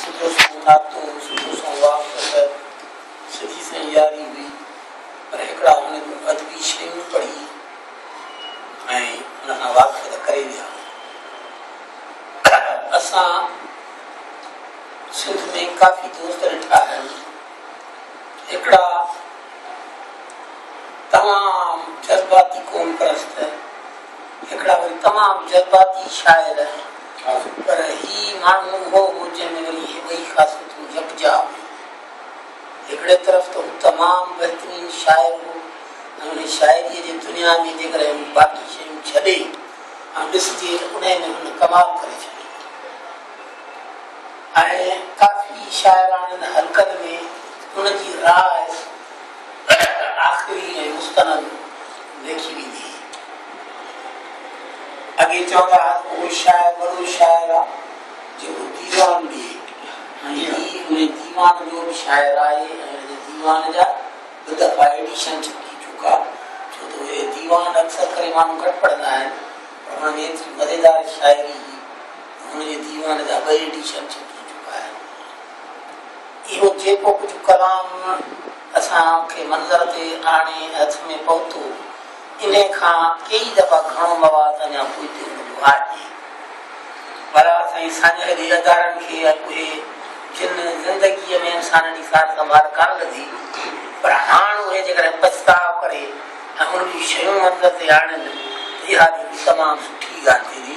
سڌو سنئون ناکتو هو، سڌو سنئون واڪ وغيره سڌي سنئين ياري هئي، پر هڪڙا هن جون ادبي شيون پڙهي ۽ ان کان واقف ته ڪري ويا. اسان سنڌ ۾ ڪافي دوست ڏٺا آهن، هڪڙا تمام جذباتي قوم پرست، هڪڙا وري تمام جذباتي شاعر، پر هي ماڻهو اهو هو جنهن ۾ وري اهي ٻئي خاصيتون يڪجا هيون. هڪڙي طرف ته هو تمام بهترين شاعر هو ۽ انهي شاعريء جي دنيا ۾ جيڪڏهن باقي شيون ڇڏي ۽ ڏسجي ته انهي ۾ هن ڪمال ڪري ڇڏي هئي ۽ ڪافي شاعراڻين حلقن ۾ هن جي راء تڏهن ته آخري ۽ مستند ليکي ويندي. اڳي چوندا ها ته ڪو شاعر وڏو شاعر آ جيڪو ديوان ڏئي ۽ هي انهي ديوان جو به شاعر آهي ۽ ان جي ديوان جا ٻه دفعا ايڊيشن ڇپجي چڪا ڇو ته اهي ديوان اڪثر ڪري ماڻهو گهٽ پڙهندا آهن پر انهن ۾ ايتري مزيدار شاعري هئي ته ان جي ديوان جا ٻه ايڊيشن ڇپجي چڪا آهن. اهو جيڪو ڪجهه ڪلام اسان کي منظر تي آڻي هٿ ۾ پهتو، انهي کان ڪيئي دفعا گهڻو مواد اڃا پوئتي هوندو آهي. بهرحال سائين ساڃهه جي ادارن کي ۽ اهي جن زندگيء ۾ انسانن جي سار سنڀال ڪانه لڌي پر هاڻ اهي جيڪڏهن پڇتاء ڪري ۽ ان جون شيون منظر تي آڻين ته اها به تمام سٺي ڳالهه ٿيندي.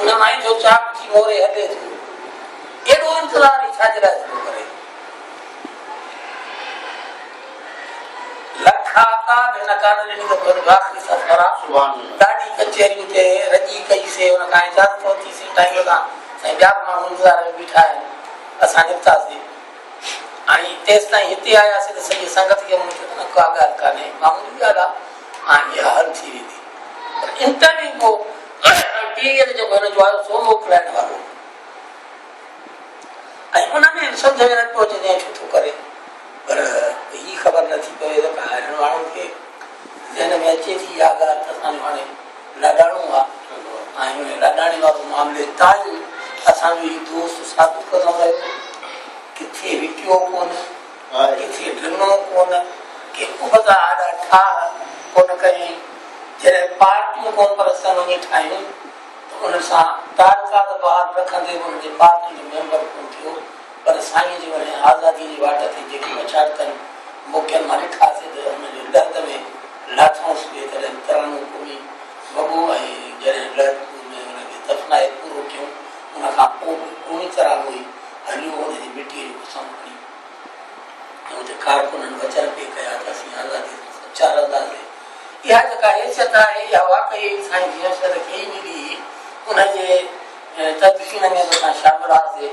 ان مائي جو چاڪ ٿي موري هڏي ٿيو. ايڏو انتظار ئي ڇا جي لاء ٿو ڪري؟ لک آقا به هن ڪان ڏني ته پنهنجي آخري سرفراز سبحان الله ڏاڍي ڪچهري اتي رڄي ڪئي سي ان کان اجازت ورتي سي ٽائيم کان سائين ٻيا به ماڻهو انتظار ۾ بيٺا آهن اسان نڪتاسين ۽ تيستائين هتي آياسين ته سڄي سنگت کي مون چيو ته ڪا ڳالهه ڪانهي معمولي ڳالهه آهي ۽ اها حل ٿي ويندي پر انٽرويو ڪو ٽيلر جيڪو هن جو آيو سو موڪلائڻ وارو هو ۽ ان ۾ سمجهه ۾ نٿو اچي ته ڇو ٿو ڪري پر هي خبر نٿي پوي ته ڪا هاڻي ماڻهو کي ذهن ۾ اچي ٿي اها ڳالهه ته اسان جو هاڻي لڏاڻو آ ۽ هن لڏاڻي وارو معاملي تائين اسان جو هي دوست ثابت ڪندو رهيو ڪٿي وڪيو ڪونه ڪٿي ڊنو ڪونه ڪي ابتا آڏا ٺاهه ڪونه ڪيائين جڏهن پارٽيون ڪون پر سن وڃي ٺاهيون ته ان سان تعلقات بحال رکندي به ان جي پارٽي جو ميمبر ڪون ٿيو پر سائينء جي وڻي آزاديء جي واٽ تي جيڪي مشاقتن موقعن مان ڏٺاسين ته ان جي لڙڪ ۾ لاٿائونس به تڏهن ترنو ڪومي وڳو ۽ جڏهن لڙڪ ۾ ان کي دفنائي پورو ڪيون ان کان پوء به ڪومي ترانو ئي هليو ان جي مٽيء جو قسم کڻي ۽ اتي ڪارڪنن وچن پي ڪيا ته اسين آزاديء سان سچا رهنداسين اها جيڪا حيثيت آهي اها واقعي سائين جمشيد کي ئي ملي هئي ان جي تدفين ۾ به اسان شامل هئاسين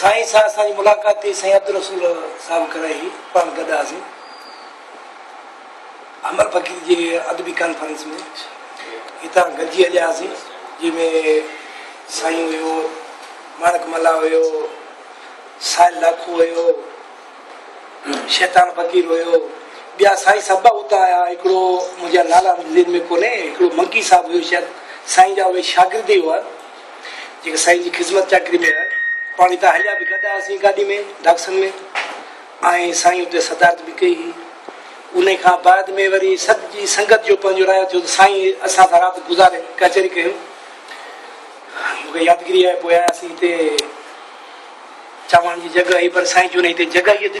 سائين سان اسان جي ملاقات ٿي سائين عبدالرسول صاحب ڪرائي هئي پاڻ گڏ هئاسين. امر فقير جي ادبي ڪانفرنس ۾ هتان گڏجي هلياسين جنهن ۾ سائين هيو ماڻڪ ملا هيو سائل لاکو هيو شيطان فقير هيو ٻيا سائين سڀ اتان آيا هڪڙو منهنجا نالا ذهن ۾ ڪونهي هڪڙو منڪي صاحب هيو شايد سائين جا اهي شاگرد ئي هئا جيڪي سائين جي خدمت چاڪري ۾ هيا پاڻ هتان هليا به گڏ آياسين گاڏي ۾ ڊاڪسن ۾ ۽ سائين اتي صدارت به ڪئي هئي انهي کان بعد ۾ وري سڄي سنگت جو پنهنجو رايو ٿيو ته سائين اسان سان رات گذاري ڪچهري ڪيو مون کي يادگيري آهي پوء آياسين هتي چوڻ جي جڳهه هئي پر سائين چيو نه هتي جڳهه ئي